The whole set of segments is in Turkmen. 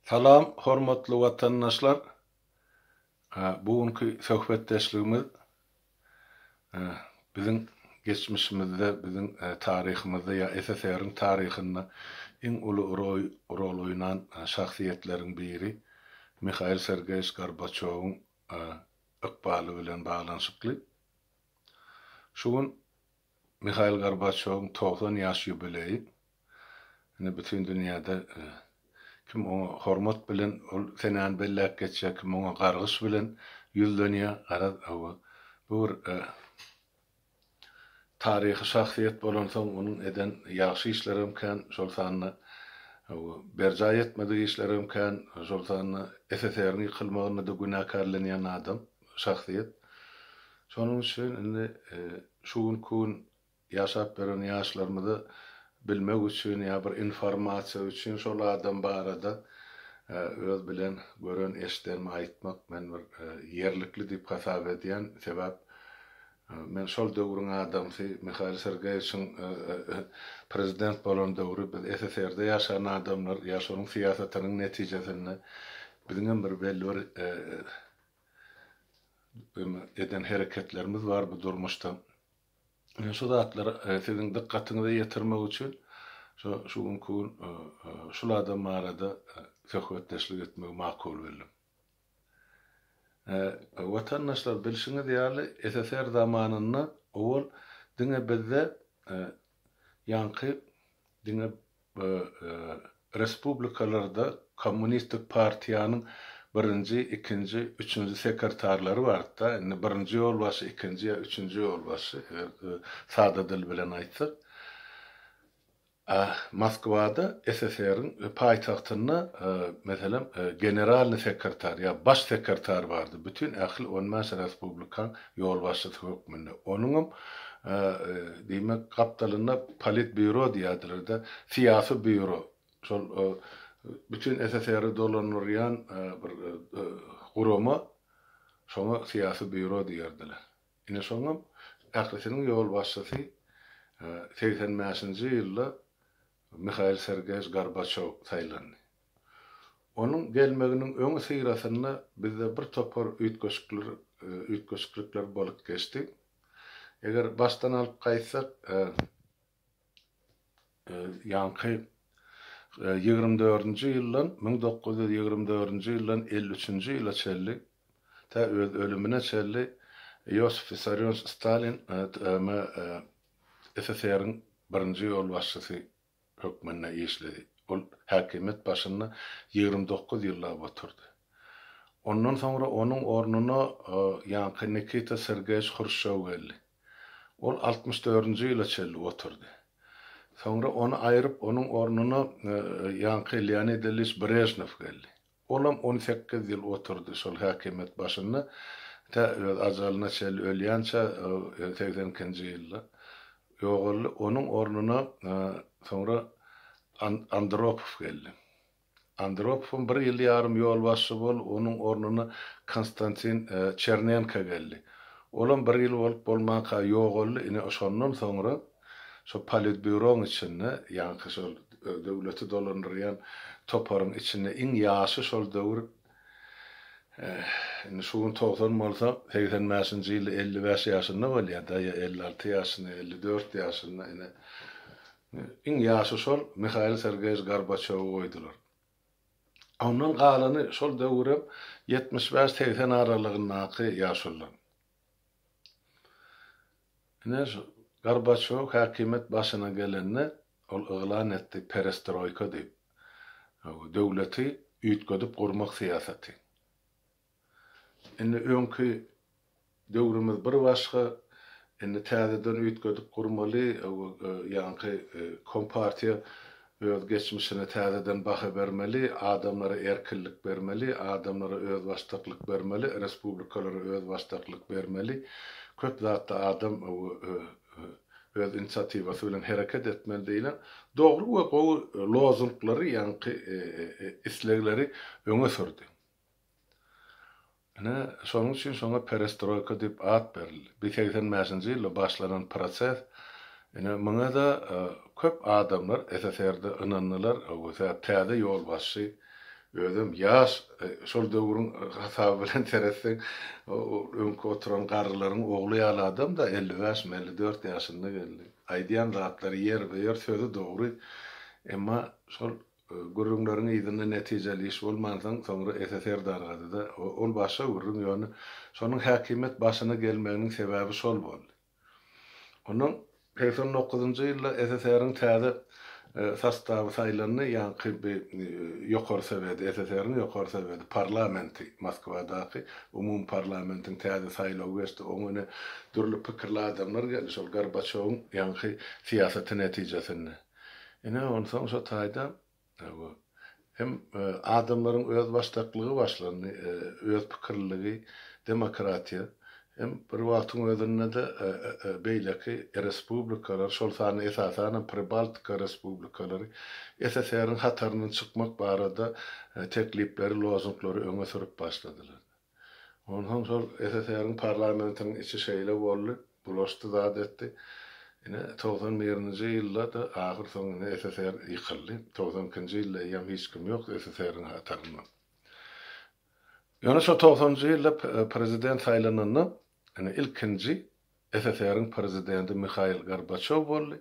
Salam hormatly watandaşlar bu günki söhbetdeşligimiz biziň geçmişimizde biziň taryhymyzda ýa SSR-iň taryhynda iň uly rol oýnan şahsyýetleriň biri Mihail Sergeýewiç Gorbaçýowyň ykbaly bilen baglanyşykly. Şu gün Mihail Gorbaçýowyň togsan ýaş ýubileýi. Indi bütin dünýäde kim oňa hormat bilen ol senäni belläp geçýär, kim oňa gargyş bilen ýüzlenýär. Garaz, hawa, bu bir taryhy şahsyýet bolansoň, onuň eden ýagşy işlerem kän, şol sanda berjaý etmedik işlerem kän, şol sanda SSR-iň ýykylmagynda-da günäkärlenýän adam. şahsyýet. Şonuň üçin indi şu günki gün ýaşap ýören ýaşlarymyza bilmek üçin ýa bir informasiýa üçin şol adam barada öz bilen gören eşidenimi aýtmak men bir ýerlikli diýip hasap edýän. Sebäp men şol döwrüň adamsy Mihail Sergeýewiçiň prezident bolan döwri biz SSR-de ýaşan adamlar ýa şonuň syýasatynyň netijesinde biziňem bir belli bir eden hereketlerimiz bar bu durmuşda. Men şu zatlary e, siziň dykgatyňyza ýetirmek üçin şu şu günki gün e, e, şul adam barada söhbetdeşlik etmegi makul bildim. Watandaşlar bilşiňiz ýaly SSR zamanynda owal diňe bizde ýaňky diňe Bu respublikalarda kommunistik partiýanyň birinji, ikinji, üçünji sekertarlary bardy-da, indi birinji ýolbaşçy, ikinji ýa üçünji ýolbaşçy, eger sada dil bilen aýtsak. A Moskwada, SSR-iň paýtagtynda, meselem, generalnyý sekertar ýa baş sekertar bardy, bütin ähli on bäş respublikaň ýolbaşçysy hökmünde, onuňam, diýmek, gapdalynda politbýuro diýýärdiler-de, syýasy býuro, şol bütin SSR-i dolandyrýan bir gurama, şoňa syýasy býuro diýerdiler. Ine, şoňam ählisiniň ýolbaşçysy segsen bäşinji ýylda Mihail Sergeýewiç Gorbaçýow saýlandy. Onuň gelmeginiň öňüsyrasynda bizde bir topar üýtgeşikler üýtgeşiklikler bolup geçdi. Eger başdan alyp gaýtsak, ýaňky ýigrimi dördünji ýyldan, müň dokuz ýüz ýigrimi dördünji ýyldan elli üçünji ýyla çenli, tä öz ölümine çenli Iosif Wissarionowiç Stalin TM-SSR-iň birinji ýolbaşçysy hökmünde işledi. Ol häkimiýet başynda ýigrimi dokuz ýyllap oturdy. Ondan soňra onuň ornuna ýaňky Nikita Sergeýewiç Hruşçow geldi. Ol altmyş dördünji ýyla çenli oturdy. Soňra ony aýryp, onuň ornuna ýaňky Leonid Ilýiç Brežnew geldi. Olam on sekiz ýyl oturdy şol häkimiýet başynda, tä öz ajalyna çenli ölýänçä, segsen ikinji ýylda ýogaldy. Onuň ornuna soňra Andropow geldi. Andropowam bir ýyl ýarym ýolbaşçy boldy, onuň ornuna Konstantin Çernenko geldi. Olam bir ýyl bolup bolmanka ýogaldy, ine şondan soňra Şo politbýuroň içinde, ýaňky şol döwleti dolandyrýan toparyň içinde iň ýaşy şol döwür, indi şu gün togsan bolsa, segsen bäşinji ýylda elli bäş ýaşynda bolýar-da, ýa elli alty ýaşynda, ýa elli dört ýaşynda, ine, iň ýaşy şol Mihail Sergeýewiç Gorbaçýowy goýdular. Ondan galany şol döwür hem ýetmiş bäş-segsen aralygyndaky ýaşullar. Ine şu Gorbaçýow häkimiýet başyna gelende, ol yglan etdi perestroýka diýip, döwleti üýtgedip gurmak syýasaty. Indi öňki döwrümiz bir başga, indi täzeden üýtgedip gurmaly, ýaňky kompartiýa Öz geçmişine täzeden baha bermeli, adamlara erkinlik bermeli, adamlara özbaşdaklyk bermeli, respublikalara özbaşdaklyk bermeli. Köp zatda adam öz inisiatiwasy bilen hereket etmeli diýlen dogry we gowy lozunglary, ýaňky islegleri öňe sürdi. Ine, şonuň üçin şoňa perestroýka diýip at berildi. Bir segsen bäşinji ýylda başlanan proses, ine, muňa-da köp adamlar SSR-de ynandylar, öwsetäp, täze ýolbaşçy, özem ýaş, şol döwrüň hasaby bilen seretseň, öňki oturan garrylaryň ogly ýaly adam-da, elli bäşmi, elli dört ýaşynda geldi. Aýdýan zatlary ýerbe-ýer, sözi dogry, emma şol Gürrüňleriň yzynda netijeli iş bolmansoň, soňra Ese serdargady-da, Ol başga gürrüň, ýöne şonuň häkimiýet başyna gelmeginiň sebäbi şol boldy. Ondan segsen dokuzynjy ýylda SSR-iň täze sostawy saýlandy, ýaňky bi Ýokary Soweti, SSR-iň Ýokary Soweti, parlamenti, Moskwadaky umumparlamentiň täze saýlawy geçdi, oňa ine, dürli pikirli adamlar geldi, şol Gorbaçýowyň ýaňky syýasaty netijesinde. Ine, onsoň şo taýda hem adamlaryň özbaşdaklygy başlandy, öz pikirliligi, demokratiýa. Hem bir wagtyň özünde-de beýleki respublikalar, şol sanda esasanam Pribaltika respublikalary SSR-iň hataryndan çykmak barada teklipleri, lozunglary öňe sürüp başladylar. Onsoň şol SSR-iň parlamentiniň içi şeýle boldy, bulaşdy zat etdi. Ine, togsan birinji ýylda-da ahyrsoňy ine SSR ýykyldy. Togsan ikinji ýylda eýýäm hiç kim ýok SSR-iň hatarynda. Ýöne şo togsanynjy ýylda prezident saýlananda Ine, ilkinji SSR-iň prezidenti Mihail Gorbaçýow boldy.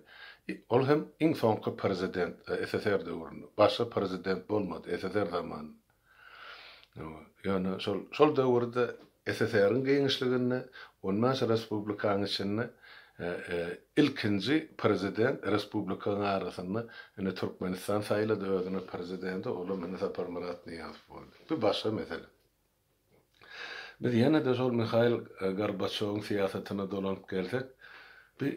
Ol hem iň soňky prezident SSR döwründe. Başga prezident bolmady SSR zamanynda. Ýöne şol, şol döwürde SSR-iň giňişliginde on bäş respublikanyň içinde ilkinji prezident respublikalaryň arasynda ine Türkmenistan saýlady özüne prezidenti, ol hem ine Saparmyrat Nyýazow boldy. Bu başga mesele. Biz ýene-de şol Mihail Gorbaçýowyň syýasatyna dolanyp gelsek, bi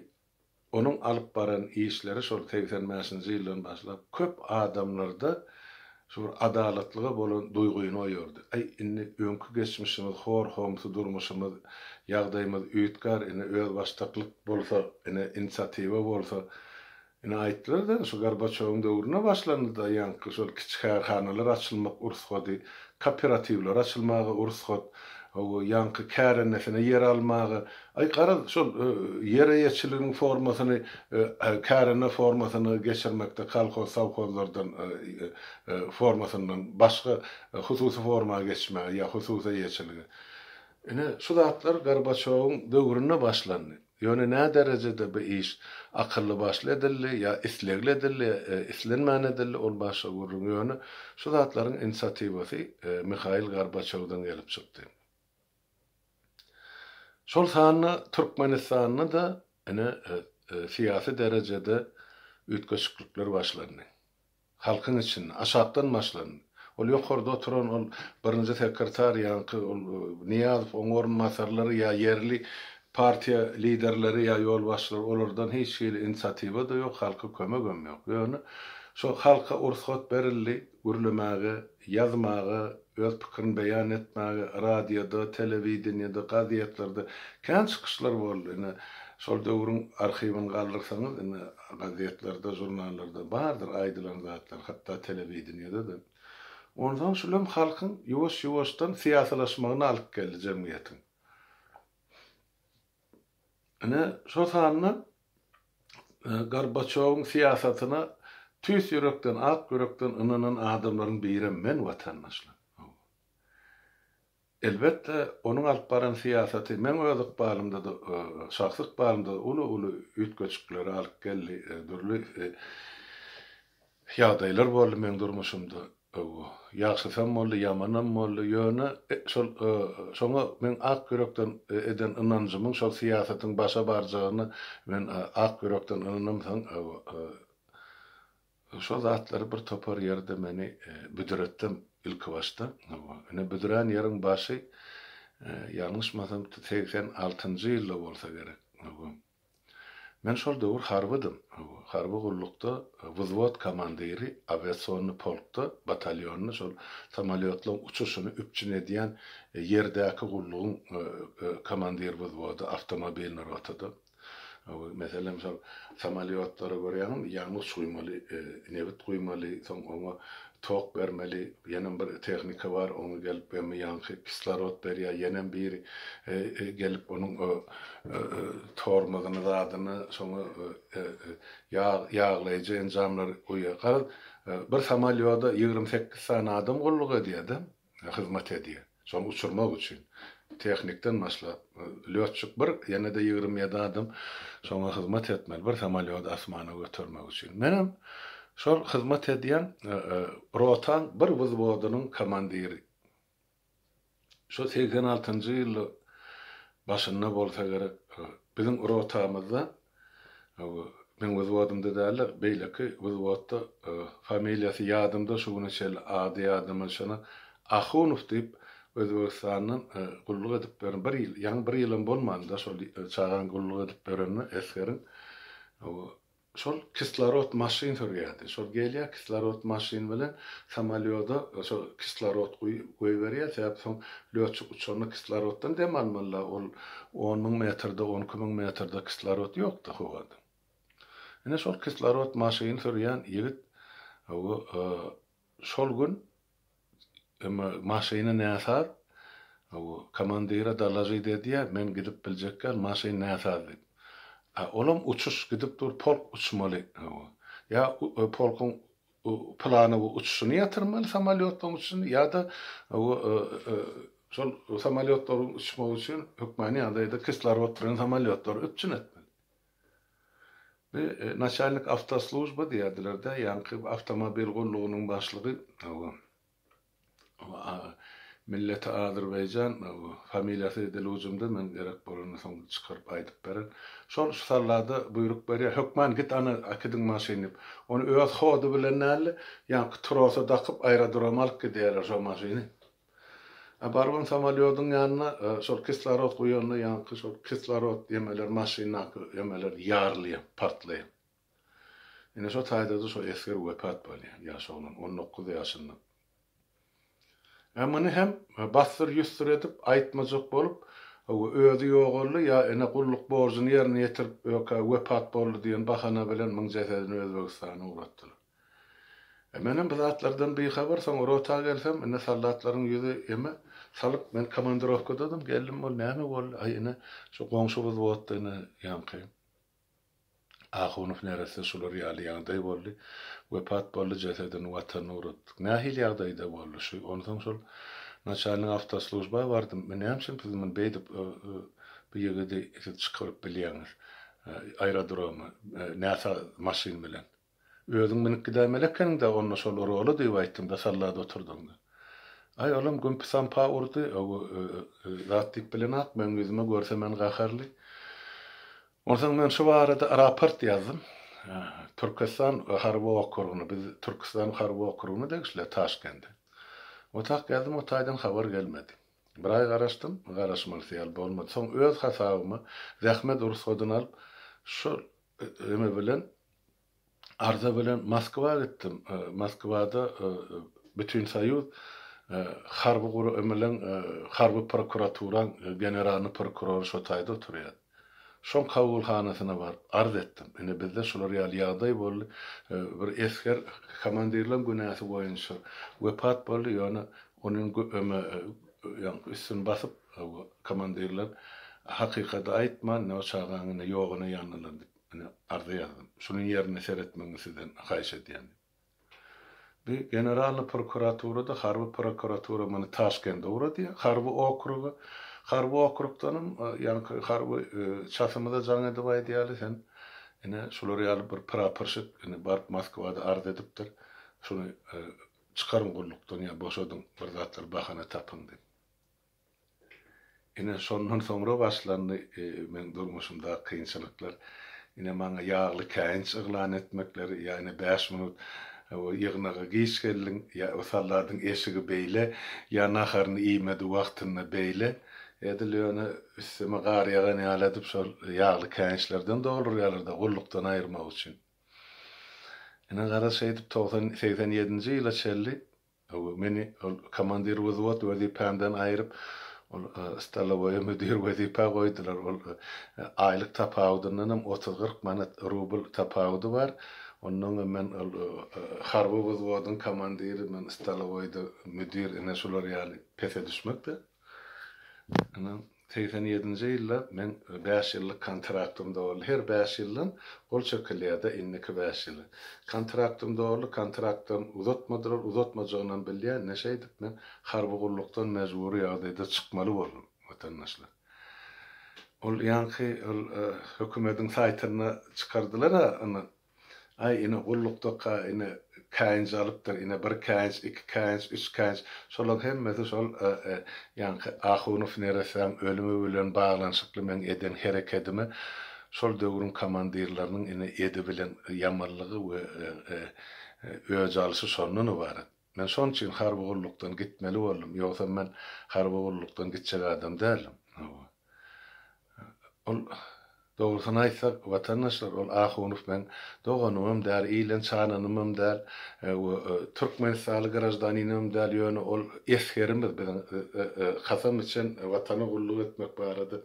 onuň alyp baran işleri şol segsen bäşinji ýyldan başlap köp adamlarda şu bir adalatlyga bolan duýgyny oýardy. Aý, indi öňki geçmişimiz, hor-homsy durmuşymyz, ýagdaýymyz üýtgär, ine, özbaşdaklyk bolsa, ine, inisiatiwa bolsa, Ine aýtdylar-da, şu Gorbaçýowyň döwründe başlandy-da ýaňky şol kiçi kärhanalar açylmak ursady, kooperatiwler açylmaga ursat, hawa, ýaňky kärendesinä ýer almaga. Aý, garaz, şol ýer eýeçiligiň formasyny kärende formasyna geçirmekde kolhoz, sowhozlardan formasyndan başga hususy forma geçmäge ýa hususy eýeçilige. Ine, şu zatlar Gorbaçýowyň döwründe başlandy. Ýöne nä derejede bu iş akylly-başly edildi ýa islegli edildi ýa islenmän edildi, ol başga gürrüň, ýöne şu zatlaryň inisiatiwasy Mihail Gorbaçýowdan gelip çykdy. Şol sanda Türkmenistanda-da ine syýasy derejede üýtgeşiklikler başlandy. Halkyň içinde, aşakdan başlandy. Ol ýokarda oturan ol birinji sekretar ýaňky ol Nyýazow, oň orunbasarlary ýa ýerli partiýa liderleri ýa ýolbaşçylar olardan hiç hili inisiatiwa-da ýok, halka kömegem ýok. Ýöne şo halka ursgat berildi gürlemäge. ýazmaga, öz pikirini beýan etmäge, radioda, telewideniýede, gazetlerde kän çykyşlar boldy. Ine, şol döwrüň arhiwini galdyrsaňyz, ine, gazetlerde, žurnallarda bardyr aýdylan zatlar, hatda telewideniýede-de. Onsoň şul hem halkyň ýuwaş-ýuwaşdan syýasylaşmagyna alyp geldi jemgyýetiň. Ine, şol sanda Gorbaçýowyň syýasatyna tüýs ýürekden, ak ýürekden ynanan adamlaryň birem men, watandaşlar. Hawa. Elbetde, onuň alyp baran syýasaty meň öz ykbalymda-da, şahsy ykbalymda-da uly-uly üýtgeşikleri alyp geldi, dürli Ýagdaýlar boldy meň durmuşymda öwgo. Ýagşysam boldy, ýamanam boldy, ýöne şol şoňa meň ak ýürekden eden ynanjymyň şol syýasatyň başa barjagyna men ak ýürekden ynanamsoň öwgo şol zatlar bir topar ýerde meni büdretdem ilki başda öwgo ine büdrän ýeriň başy ýalňyşmasam segsen altynjy ýylda bolsa gerek öwgo. Men şol döwür harbydym. Harby gullukda wzwod komandiri, awiasionny polkda, batalýonda şol samolýotlaryň uçuşyny üpjün edýän ýerdäki gullugyň komandir wzwody, awtomobilni rotada. Meselem, şol samolýotlary görýäňmi, ýangyç guýmaly, nebit guýmaly, soň oňa Tok bermeli, ýenem bir tehnika bar, oňa gelip gemi ýaňky kislorod berýär, ýenem biri gelip onuň o tormozyny zadyny, soňa ýag ýaglaýjy enjamlary guýýar. Garaz, bir samolýoda ýigrimi sekiz sany adam gulluk edýär-de. hyzmat edýär. Şony uçurmak üçin tehnikden başlap, lýotçik bir, ýene-de ýigrimi ýedi adam şoňa hyzmat etmeli, bir samolýody asmana götermek üçin. Menem şol hyzmat edýän rotaň bir wzwodynyň komandiri. Şo segsen altynjy ýyl başynda bolsa gerek, biziň rotamyzda Meň wzwodymda dälde beýleki wzwodda familiýasy ýadymda şu güne çenli ady ýadyma düşenok Ahunow diýip Özbegistandan gulluk edip ýören bir ýyl ýaňy bir ýylam bolmanda şol çagaň gulluk edip ýörenine esgeriň şol kislorod maşyn sürýärdi şol gelýär kislorod maşyn bilen samalýoda şol kislorod goýberýär sebäbi soň Lötçük uçanda kisloroddan dem almaly-la, ol on müň metrde, on iki müň metrde kislorod ýok-da howada. Ine, şol kislorod maşyn sürýän ýigit o şol gün emma maşyny näsaz, o komandire dolažit edýär, men gidip biljekgän, maşyn näsaz diýip. A olam uçuş gidip dur, polk uçmaly, o ýa polkuň Bu plana bu uçuşyny ýatyrmaly samolýotlaryň üçin ýa-da şol samolýotlaryň uçmagy üçin hökmany ýagdaýda kislorod turan samolýotlary üpjün etmeli. Bu naçalnik awtoslujba diýerdiler-dä, ýaňky awtomobil gullugynyň başlygy. Milleti Azerbaýjan familiýasy dil ujumda men gerek bolanda soň çykaryp aýdyp beren. Şol şu sallada buýruk berýär. Hökman git ana äkidiň maşyn diýip. Ony öz hody bilen däldi. Ýaňky trosa dakyp aerodroma alyp gidýärler şo maşyny. A barybam samolýodyň ýanyna şol kislorod guýanda ýaňky şol kislorod ýemeler maşyndaky ýemeler ýarylýa, partlaýa. Ine şo taýda-da şo esger wepat bolýar, ýaş oglan, on dokuz ýaşynda. Ä muny hem bassyr-ýüssür edip, aýtmajak bolup, hawa, özi ýogaldy, ýa ine gulluk borjuny ýerine ýetirip, ökä wepat boldy diýen bahana bilen muň jesedini Özbegistana ugratdylar. Ä menem bu zatlardan bihabar, soň rota gelsem, ine soldatlaryň ýüzi eme, salyp, men komandirowkadadym, geldim, ol näme boldy, aý, ine, şo goňşy wzwodda, ine, ýaňky. Ahunow neresse şular ýaly ýagdaý boldy. Wepat boldy, jesedini Watanyna ugratdyk. Nähili ýagdaýda boldy şu? Onsoň şol naçalnik awtoslujba bardym. Men näme üçin siz muny beýdip bu ýigidi siz çykaryp bilýäňiz aerodroma näsaz maşyn bilen? Özüň münüp gidäýmeli ekeniň-dä onda şol rola diýip aýtdym-da sallada oturdym-da. Aý, olam gümpi-sampa urdy, öo, zat diýip bilenok, meň ýüzüme görse men gaharly. Onsoň men şu barada raport ýazdym. Türkestan harby okrugyna, biz Türküstan harby okrugyna degişli-ä Taşkende. Otak ýazdym, o taýdan habar gelmedi. Bir aý garaşdym, garaşmalysy ýaly bolmady. Soň öz hasabyma zähmet rugsady-ny alyp, şol Neme bilen? Arza bilen Moskwa gitdim. Moskwada Bütinsoýuz harby guramalyň harby prokuraturaň generalny prokurory şo taýda oturýar. Şoň kabulhanasyna baryp arz etdim. Ine bizde şular ýaly ýagdaý boldy. Bir esger komandirleň günäsi boýunça wepat boldy, ýöne Onuň üstüni basyp, Komandirler hakykaty aýtman, ne o çagaň ine ýogyny ýanlalar diýip, ine arza ýazdym. Şunuň ýerine seretmegiňi sizden haýyş edýän diýip. Bi Generalnyý prokuratura-da, harby prokuratura muny Taşkende ugrady, harby okruga. Harby okrugdanam, ýaňky harby çatymyza jaň edip aýdýaly, sen ine şular ýaly bir praporşik ine baryp Moskwada arz edipdir. Şuny Çykaryň gullukdan ýa boşadyň, bir zatlar bahana tapyň diýip. Ine, şondan soňra başlandy meň durmuşymdaky kynçylyklar. Ine, maňa ýagly käýinç yglan etmekleri, ýa ine bäş minut ýygnaga giç geldiň, ýa salladyň eşigi beýle, ýa naharyny iýmedi wagtynda beýle. Edil ýöne üstüme gar ýagan ýaly edip şol ýagly käýinçlerden doldurýarlar-da gullukdan aýyrmak üçin. Ine, garaz, şeýdip, togsan, segsen ýedinji ýyla çenli meni ol komandir wzwod wezipämden aýryp, ol stolowoýa müdir wezipä goýdular. Ol aýlyk tapawudyndan hem otuz-kyrk manat, rubl tapawudy bar. Onnoň hem men ol harby wzwodyň komandiri, men stolowoýda müdir, ine, şular ýaly pese düşmek-de. Ine. Segsen ýedinji ýylda men bäş ýyllyk kontraktym doldy. Her bäş ýyldan gol çekilýärdi, indiki bäş ýyl. Kontraktym doldy, kontraktdan uzatmadylar, uzatmajagynam bilýän. Ine şeýdip men harby gullukdan mejbury ýagdaýda çykmaly boldum, watandaşlar. Ol ýaňky ol hökümediň saýtynda çykardylar-a ony, Aý, ine, gullukda-ka, ine, käýinç alypdyr, ine, bir käýinç, iki käýinç, üç käýinç, şolaň hemmesi şol ýaňky Ahunow neressäň ölümi bilen baglanyşykly meň eden herekedime şol döwrüň komandirleriniň, ine, edi bilen ýamanlygy we öj alşy şondan ybarat. Men şonuň üçin harby gullukdan gitmeli boldum, ýogsam men harby gullukdan gitjek adam däldim. Hawa. Ol, dogrusyny aýtsak, watandaşlar, ol Ahunow meň doganymam däl, ilen çananymam däl we türkmenistanly graždaninimem däl, ýöne ol esgerimiz, biziň kasam içen Watana gulluk etmek barada,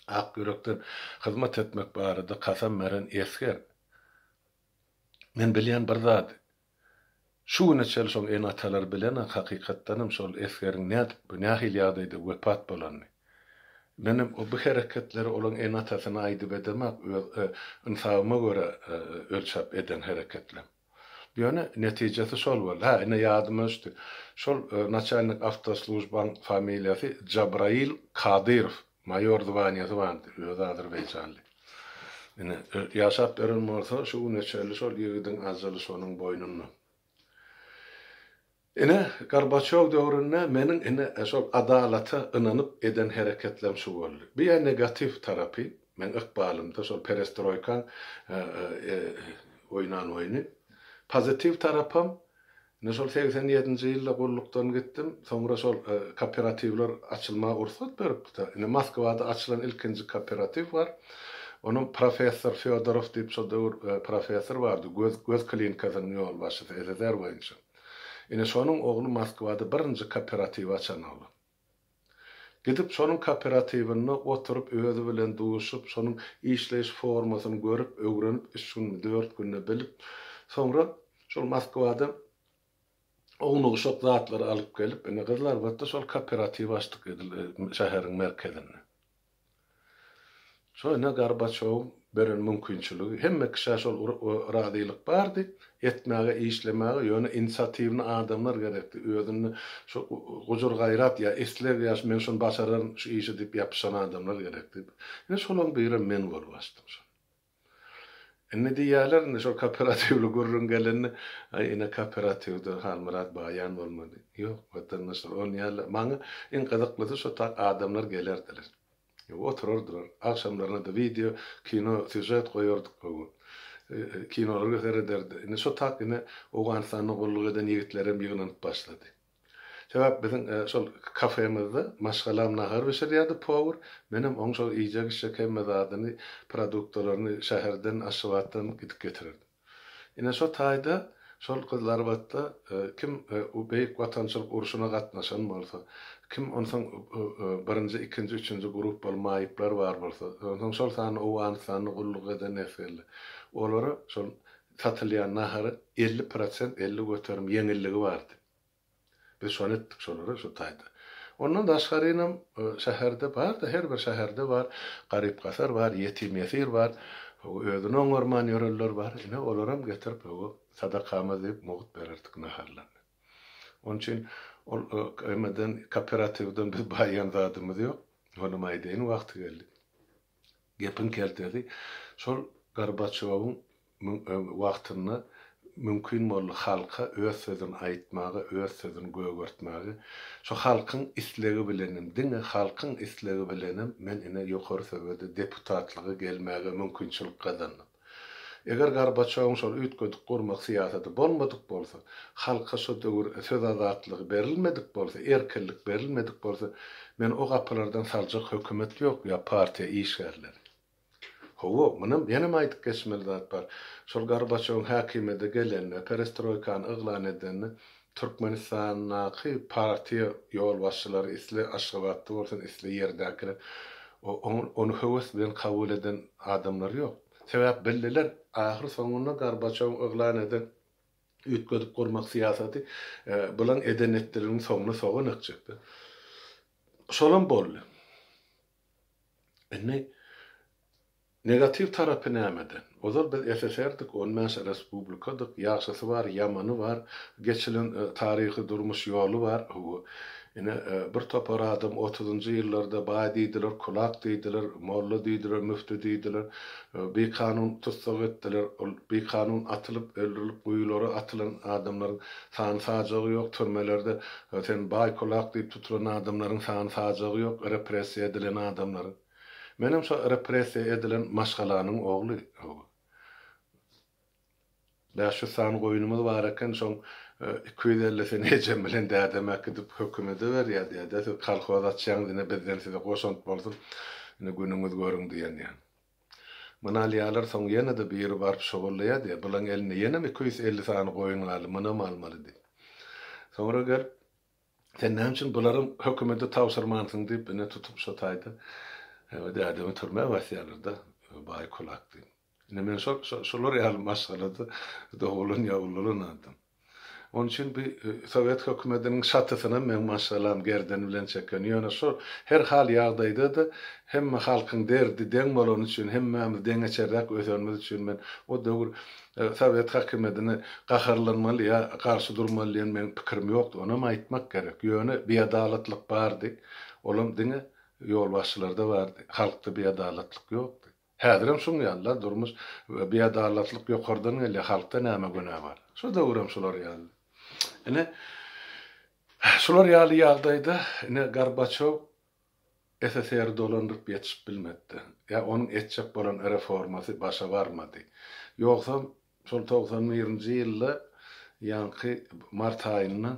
ak ýürekden hyzmat etmek barada kasam beren esger. Men bilýän bir zady, Şu güne çenli şol ene-atalar bilenok, hakykatdanam şol esgeriň nädip we nähili ýagdaýda wepat bolanyny. Menem bu hereketleri olaň ene-atasyna aýdyp edemok, öz ynsabyma görä ölçäp eden hereketlem. Ýöne netijesi şol boldy. Hä, ine ýadyma düşdi. Şol naçalnik awtoslujbaň familiýasy Jabraýyl Kadyrow. Maýor zwanýasy bardy, özi azerbaýjanly. Ine, ýaşap ýören bolsa, şu güne çenli şol ýigidiň ajaly şonuň boýnunda. Ine, Gorbaçýow döwründe meniň ine, şol adalata ynanyp eden hereketlem şu boldy. Bu ýa negatiw tarapy, meň ykbalymda şol perestroýkaň oýnan oýny. Pozitiw tarapam, Men şol segsen ýedinji ýylda gullukdan gitdim, soňra şol kooperatiwler açylmaga rugsat beripdi-de. Indi Moskwada açylan ilkinji kooperatiw bar. Onuň professor Fýodoraw diýip şol döwür professor bardy, göz göz klinikasynyň ýolbaşçysy, SSR boýunça. Ine, şonuň ogly Moskwada birinji kooperatiwi açan oglan. Gidip şonuň kooperatiwinde oturyp özi bilen duşup şonuň işleýiş formasyny görüp öwrenip üç günmi dört günde bilip soňra şol Moskwadan oňuna guşak zatlary alyp gelip ine gyzlar batda şol kooperatiw açdyk edil şäheriň merkezinde. Şonda Gorbaçowyň beren mümkinçiligi, hemme kişä şol razylyk bardy, etmäge, işlemäge, ýöne inisiatiwny adamlar gerekdi, özünde şu gujur-gaýrat ýa isleg ýa men şuny başararyn şu işi diýip ýapyşan adamlar gerekdi. Ine şolaryň birem men bolup açdym şony. Indi diýýärler, indi şol kooperatiwli gürrüň gelende, Aý, ine, kooperatiwde Halmyrat Baýan bolmaly. Ýok, watandaşlar, ol ýaly. Maňa iň gyzyklysy şo tak adamlar gelerdiler. Oturardylar. Agşamlaryna-da wideo, kino, sýužet goýardyk gowy. Kinolara serederdi. Indi şo tak ine Owganystanda gulluk eden ýigitlerem ýygnanyp başlady. Sebäp biziň şol kafemizde maşgalam nahar bişirýärdi powur, menem oň şol iýjek-içjek hemme zadyny, produktalaryny şäherden, Aşgabatdan gidip getirerdim. Ine şo taýda şol gyzlarbatda kim Beýik Watançylyk urşuna gatnaşan bolsa, kim onsoň birinji, ikinji, üçünji gruppaly maýyplar bar bolsa, onsoň şol sanda Owganystanda gulluk eden esgerler, olara şol satylýan nahary elli prosent elli göterim ýeňilligi bardy. Biz şony etdik şolara şu taýda. Ondan daşgarynam şäherde bar-da, her bir şäherde bar, garyp-gasar bar, ýetim-ýesir bar, özüni oňarman ýörenler bar. Ine, olaram getirip hawa, sadakamyz diýip mugt bererdik naharlaryny. Onuň üçin ol emeden, kooperatiwden biz baýan zadymyz ýok. Onam aýdaýyn wagty geldi. Gepiň keltesi, şol Gorbaçýowyň wagtynda mümkin boldy halka öz sözüni aýtmaga, öz sözüni gögertmäge. Şu halkyň islegi bilenem, diňe halkyň islegi bilenem men ine ýokary söwede deputatlyga gelmäge mümkinçilik gazandym. Eger Gorbaçýowyň şol üýtgedik gurmak syýasaty bolmadyk bolsa, halka şo döwür söz azatlygy berilmedik bolsa, erkinlik berilmedik bolsa, meni o gapylardan saljak hökümet ýok ýa partiýa işgärleri. Hawa, munam ýenem aýdyp geçmeli zat bar. Şol Gorbaçýowyň häkimiýete gelenine, perestroýkany yglan edenine Türkmenistandaky partiýa ýolbaşçylary isle Aşgabatda bolsun, isle ýerdäkiler ony höwes bilen kabul eden adamlary ýok. Sebäp bildiler, ahyr soňunda Gorbaçowyň yglan eden üýtgedip gurmak syýasaty bulaň eden-etdiliginiň soňuna sogan ekjekdi. Şolam boldy. Indi Negatiw tarapy nämeden? Ozal biz SSR-dik, on bäş respublikadyk, ýagşysy bar, ýamany bar, geçilen taryhy durmuş ýoly bar. Howwa. Ine, bir topar adam otuzynjy ýyllarda baý diýdiler, kulak diýdiler, molla diýdiler, müfti diýdiler, bikanun tussag etdiler. Ol bikanun atylyp, öldürilip guýulara atylan adamlaryň sany-sajagy ýok, türmelerde sen baý, kulak diýip tutulan adamlaryň sany-sajagy ýok, repressiýa edilen adamlaryň. Menem şo repressiýa edilen maşgalanyň ogly. Bäş ýüz sany goýunymyz bar eken, şoň iki ýüz ellisini ejem bilen dädem äkidip hökümede berýär, däde, siz kolhoz açýaňyz, ine, bizden size goşant bolsun, ine, günüňiz görüň diýen ýaly. Muny alýarlar, soň ýene-de biri baryp şogullaýar, diýýär, bulaň elinde ýenem iki ýüz elli sany goýun galdy, munam almaly diýip. Soňra gelip. Sen näme üçin bularam hökümede tabşyrmansyň diýip ine tutup şo taýda e, dädemi türmä basýarlarda e, baý kulak diýip. Ine men şol şolar ýaly maşgalada dogulan ýa ululan adam. Onun üçin bir e, Sowet hökümetiniň şatysyny men maşgalam gerden bilen çeken. Ýöne şol her hal ýagdaýda da hemme halkyň derdi deň bolany üçin, hemmämiz deňeçerräk ösenimiz üçin men o döwür Sowet hakymyýetine gaharlanmaly ýa garşy durmaly diýen meň pikirim ýokdy. Onam aýtmak gerek. Ýöne biadalatlyk bardy. Olam diňe ýolbaşçylarda bardy. Halkda biadalatlyk ýokdy. Häzirem şuň ýaly-la durmuş. Biadalatlyk ýokardan gelýär. Halkda näme günä bar? Şu döwürem şular ýaly. Ine, şular ýaly ýagdaýda ine Gorbaçýow SSR-i dolandyryp ýetişip bilmedi. Ýa onuň etjek bolan reformasy başa barmady. Ýogsam, şol togsan birinji ýylda ýaňky mart aýynda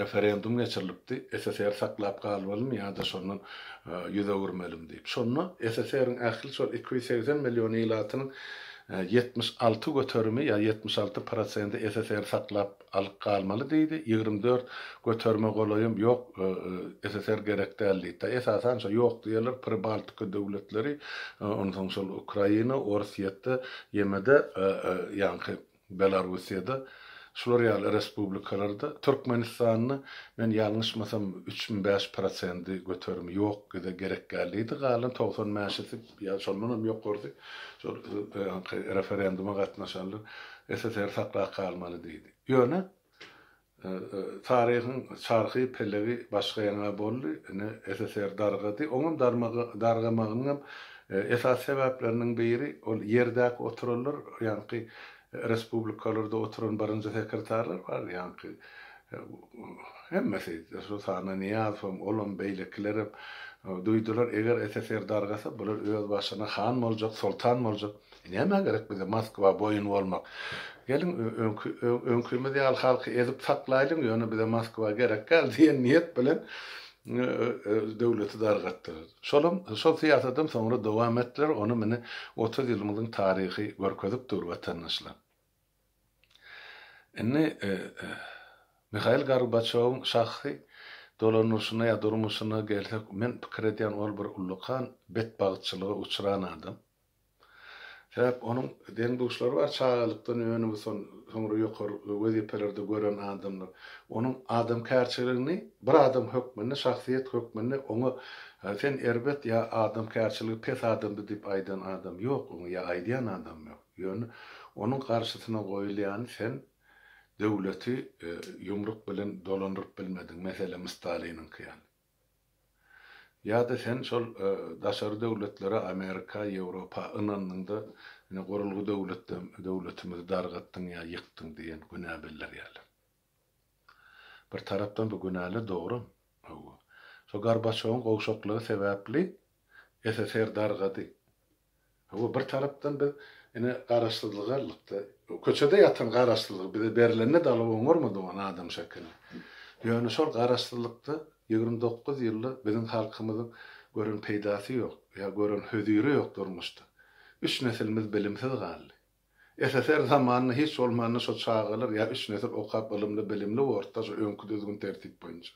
referendum geçirilipdi, SSR saklap galmalymy ýa-da şondan ýüz öwürmelimi diýip. Şonda SSR-iň ähli şol iki ýüz segsen million ilatynyň ýetmiş alty göterimi ýa ýetmiş alty prosenti SSR-i saklap Alyp galmaly diýdi. Ýigrimi dört göterime golaýym ýok, SSR gerek däl diýdi. Da esasan şo ýok diýerler Pribaltika döwletleri, ondan soň şol Ukraina, Orsýetde, ýemede ýaňky Belarussiýada, şular ýaly respublikalarda, Türkmenistanda men ýalňyşmasam üç mi bäş prosendi göterimi ýok, bize gerek däl diýdi. Galan togsan bäşisi. Ýa şondan hem ýokarysy, şol ýaňky referenduma gatnaşanlar SSR saklap galmaly diýdi. Ýöne, taryhyň çarhy, pelegi başga ýaňa boldy. Ine, SSR dargady. Oňam dargamagynyň hem esasy sebäpleriniň biri, ol ýerdäki oturanlar ýaňky Respublikalarda oturan birinji sekretarlar bardy ýaňky. Hemmesi, Rushana Nyýazowam, olam, beýlekilerem duýdular, eger SSR dargasa, bular öz başyna han boljak, soltan boljak. Nämä gerek bize Moskwa boýun bolmak? Geliň, öňki, öňkimiz ýaly halky ezip saklaýlyň, ýöne bize Moskwa gerekgäl diýen niýet bilen döwleti dargatdylar. Şolam, şol syýasadam soňra dowam etdiler, ony mine otuz ýylymyzyň taryhy görkezip dur, watandaşlar. Indi Mihail Gorbaçýowyň şahsy dolandyryşyna ýa durmuşyna gelsek, men pikir edýän, ol bir ullakan betbagtçylyga uçran adam. Sebäp onuň deň-duşlary bar, çagalykdan öňi son soňra ýokary wezipelerde gören adamlar. Onuň adamkärçiligini bir adam hökmünde, şahsyýet hökmünde oňa sen erbet ýa adamkärçiligi pes adamdy diýip aýdan adam ýok oňa ýa aýdýan adam ýok. Ýöne onuň garşysyna goýulýany sen döwleti ýumruk bilen dolandyryp bilmediň, meselem Staliniňki ýaly. Ýa-da sen şol daşary döwletlere, Amerika, Ýewropa ynandyňda, ine gurulgy döwletde döwletimizi dargatdyň ýa ýykdyň diýen günä bildirýärler. Bir tarapdan bu günäler dogrum. Hawa. Şo Gorbaçýowyň gowşaklygy sebäpli SSR dargady. Hawa, bir tarapdan biz ine garaşsyzlyga ylykda, köçede ýatan garaşsyzlyk bize berlende dagy oňarmady oňa adam şekilli. Ýöne şol garaşsyzlykda ýigrimi dokuz ýylda biziň halkymyzyň gören peýdasy ýok, ýa gören höziri ýok durmuşda. Üç nesilimiz bilimsiz galdy. SSR zamanynda hiç bolmanda şo çagalar ýa üç nesil okap ylymly bilimli bordy-da şo öňki düzgün tertip boýunça.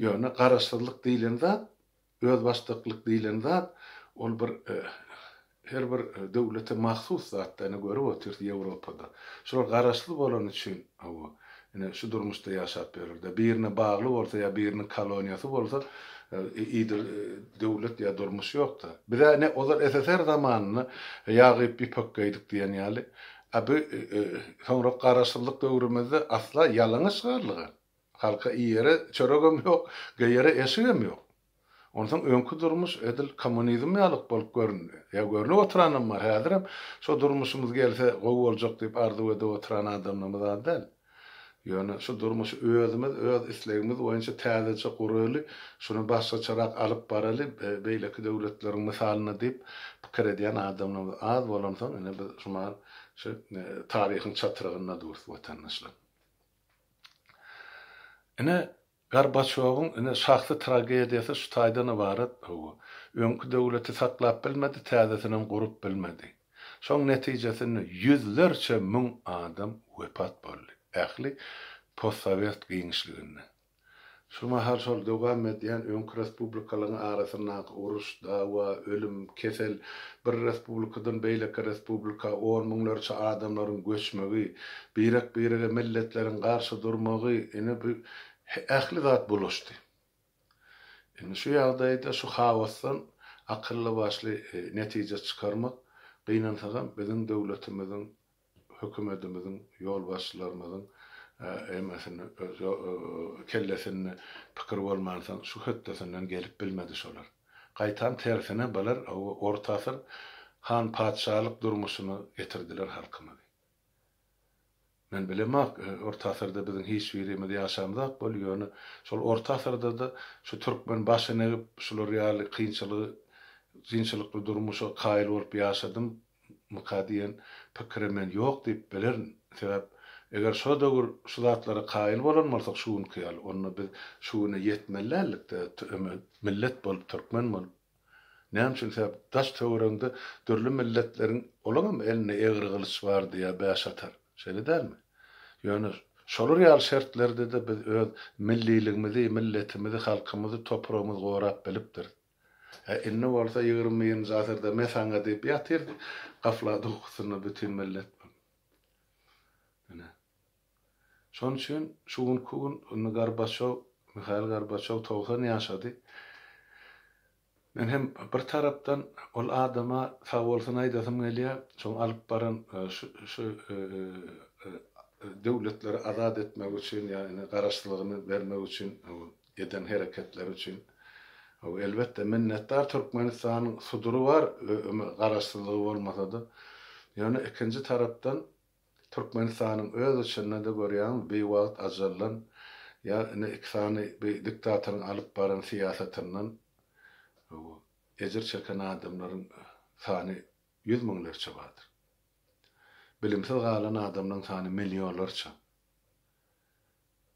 Ýöne garaşsyzlyk diýlen zat Özbaşdaklyk diýlen zat, ol bir her bir döwlete mahsus zat-da, ine görüp otyrys Ýewropada. Şular garaşsyz bolany üçin, hawa, ine şu durmuşda ýaşap ýörler-de. Birine bagly bolsa ýa biriniň koloniýasy bolsa, idil döwlet ýa durmuş ýok-da. Biz-ä ine ozal SSR zamanynda ýag iýip ýüpek geýdik diýen ýaly, a bu soňrak garaşsyzlyk döwrümizde asla ýalaňaç galdyk-a. Halka iýere çöregem ýok, geýere eşigem ýok. Onsoň öňki durmuş edil kommunizm ýalyk bolup göründi. Ýa görnüp oturanam bar, häzirem şo durmuşymyz gelse gowy boljak diýip arzuw edip oturan adamlarymyz az däl. Ýöne şu durmuşy özümiz öz islegimiz boýunça täzeçe guraly, şuny başgaçarak alyp baraly, beýleki döwletleriň mysalyna diýip pikir edýän adamlarymyz az bolansoň ine biz şumal şu taryhyň çatrygynda durus watandaşlar. Ine, Gorbaçýowyň ine şahsy tragediýasy şu taýdan ybarat, hawa, öňki döwleti saklap bilmedi, täzesinem gurup bilmedi. Şoň netijesinde ýüzlerçe müň adam wepat boldy, ähli postsowet giňişliginde. Şu mahal şol dowam edýän öňki respublikalaryň arasyndaky uruş, dawa, ölüm, kesel, bir respublikadan beýleki respublika on müňlerçe adamlaryň göçmegi, birek-birege milletleriň garşy durmagy, ine bu ähli zat bulaşdy. Indi şu ýagdaýda şu haosdan akylly-başly netije çykarmak, gynansagam, biziň döwletimiziň hökümetimiziň, ýolbaşçylarymyzyň emmesini kellesinde pikir bolmansoň şu hötdesinden gelip bilmedi şolar. Gaýtam tersine bular orta asyr han patyşalyk durmuşyna getirdiler halkymyzy. Men bilemok orta asyrda biziň hiç birimiz ýaşamzok bol ýöne şol orta asyrdada şu türkmen başyny egip şular ýaly kynçylygy kynçylykly durmuşa kaýyl bolup ýaşadym Mika diýen pikire men ýok diýip bilerin. Sebäp, eger şo döwür şu zatlara kaýyl bolan bolsak şu günki ýaly, onda biz şu güne ýetmeli däldik-de, millet bolup, türkmen bolup. Näme üçin? Sebäp, daş-töweregiňde dürli milletleriň, olaňam elinde egri gylyç bardy ýa bäş atar. Şeýle dälmi? Ýöne şolar ýaly şertlerde-de biz öz milliligimizi, milletimizi, halkymyzy, topragymyzy gorap bilipdiris. Hä, indi bolsa ýigrimi birinji asyrda me saňa diýip ýatyr gaflat ukusynda bütin millet bu. Ine. Şonuň üçin şu günki gün indi Gorbaçow, Mihail Gorbaçow togsan ýaşady. Men hem bir tarapdan ol adama sag bolsun aýdasym gelýär, şoň alyp baran şu şu döwletleri azat etmek üçin ýa ine garaşsyzlygyny bermek üçin eden hereketleri üçin Hawa elbetde minnetdar Türkmenistanyň sudury bar garaşsyzlygy bolmasada ýöne ikinji tarapdan Türkmenistanyň öz içindede görýäňmi biwagt ajallan ýa ine iki sany bi diktatoryň alyp baran syýasatyndan Hawa ejir çeken adamlaryň sany ýüz müňlerçe bardyr bilimsiz galan adamlaryň sany millionlarça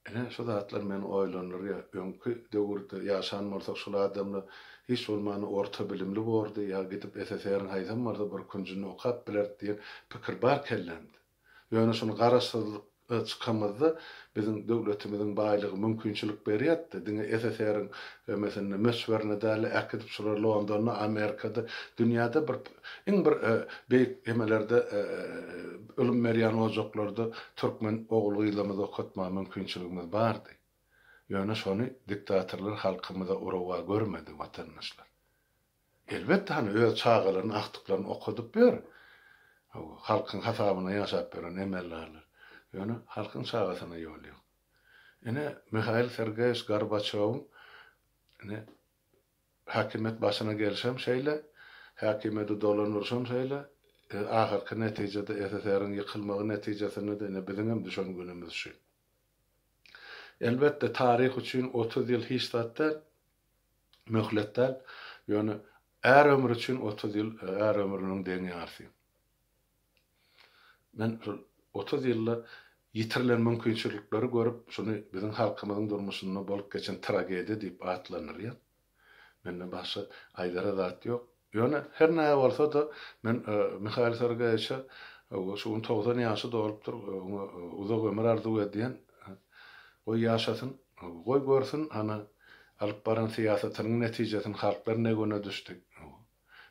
Ine, şu zatlar meni oýlandyrýar. Öňki döwürde ýaşan bolsak, şul adamlar hiç bolmanda orta bilimli bordy, ýa gidip SSR-iň haýsam bolsa bir künjünde okap bilerdi diýen pikir bar kellämde. Ýöne şuny garaşsyzlyk a çykamyzda biziň döwletimiziň baýlygy mümkinçilik berýärdi-de, diňe SSR-iň ömesinde, möçberinde däl-de, äkidip şular Londonda, Amerikada, dünýäde bir iň bir a beýik emelerde a Ylym berýän ojaklarda türkmen ogul-gyzlarymyzy okatmaga mümkinçiligimiz bardy. Ýöne şony diktatorlar halkymyza urawa görmedi, watandaşlar. Elbetde, hany, öz çagalaryny, agtyklaryny okadyp ýör. Hawa, halkyň hasabyna ýaşap ýören emeldarlar. Ýöne halkyň çagasyna ýol ýok. Ine, Mihail Sergeýewiç Gorbaçýowyň, ine, Häkimiýet başyna gelşem şeýle, häkimiýeti dolandyryşam şeýle, ahyrky netijede SSR-iň ýykylmagy netijesinde-de ine biziňem düşen günümiz şu. Elbetde, taryh üçin otuz ýyl hiç zat däl, möhlet däl, ýöne är ömri üçin otuz ýyl är ömrüniň deň ýarsy. Men şol otuz ýylda ýitirilen mümkinçilikleri görüp, şuny biziň halkymyzyň durmuşynda bolup geçen tragediýa diýip atlandyrýan. Mende başga aýdara zat ýok. Ýöne her näme bolsa-da, men Mihail Sergeýewiçe şu gün togsan ýaşy dolupdyr, oňa uzak ömür arzuw edýän. Goý ýaşasyn. Goý görsün, hany, alyp baran syýasatynyň netijesini halklar ne güne düşdi.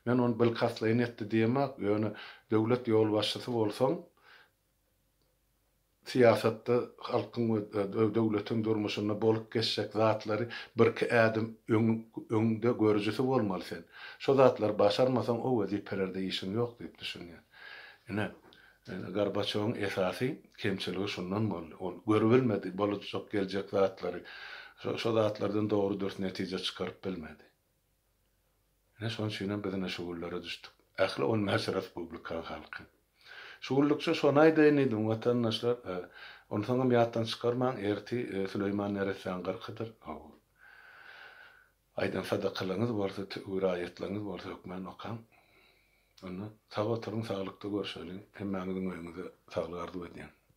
Men ony bilkastlaýyn etdi diýemok, ýöne döwlet ýolbaşçysy bolsaň, syýasatda halkyň we döwletiň durmuşynda bolup geçjek zatlary birki ädim öňde görüjisi bolmaly sen. Şo zatlary başarmasaň, o wezipelerde işiň ýok diýip düşünýän. Ine, Gorbaçýowyň esasy kemçiligi şundan boldy. Ol görübilmedi bolujak-geljek zatlary. Şo zatlardan dogry-dürs netije çykaryp bilmedi. Ine şonuň üçinem biz ine şu günlere düşdük. Ähli on bäş respublikaň halky. Şu günlükçe şony aýdaýyn diýdim, watandaşlar, onsoňam ýatdan çykarmaň, erti Süleýman neressäň gyrkydyr, hawa. Aýdan sadakalaryňyz bolsa, tüwür aýatlaryňyz bolsa hökman okaň. Onda sag oturyň, saglykda görşeliň. Hemmäňiziň öýüňize saglyk arzuw edýän.